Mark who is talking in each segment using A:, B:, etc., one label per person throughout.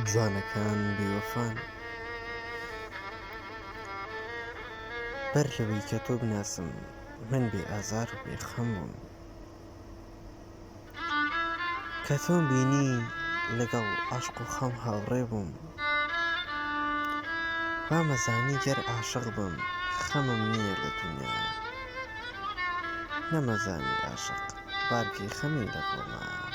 A: جوانەکان بێوەفان بەر لەوەی کە تۆ بناسم من بێ ئازار و بێ خەم بووم کە تۆم بینی لەگەڵ عەشق و خەم هاوڕێ بووم وامەزانی گەر عاشق بم خەمم نیە لە دونیایا نەمەزانی عاشق بارگەی خەمی لە گۆمایا.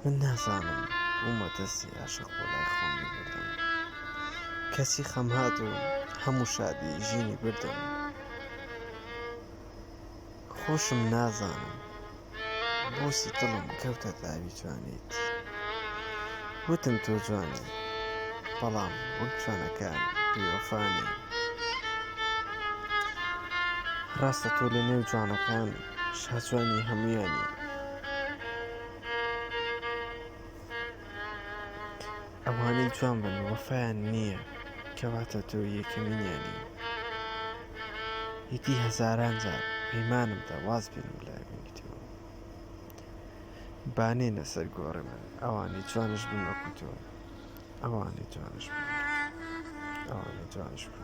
A: من نازانم بومە دەستی عاشق بۆ لای خۆم بیبردم کەچی خەم هات و هەموو شادی ژینی بردم. خۆشم نازانم بۆچی دڵم کەوتە داوی جوانیت وتم تۆ جوانی بەڵام وەک جوانەکان بیوەفانی ڕاستە تۆ لە نێو جوانەکان شاجوانی هەمویانی ئەوانەی جوان بن وەفایان نییە کەواتە تۆ یەکەمینیانی یەتی هەزاران جار پەیمانم دا واز بێنم لە ئەوینیتەوە بانێنە سەر گۆڕێ من ئەوانەی جوانش بن وەکو تۆ ئەوانەی جوانش بن ئەوانەی جوانش بن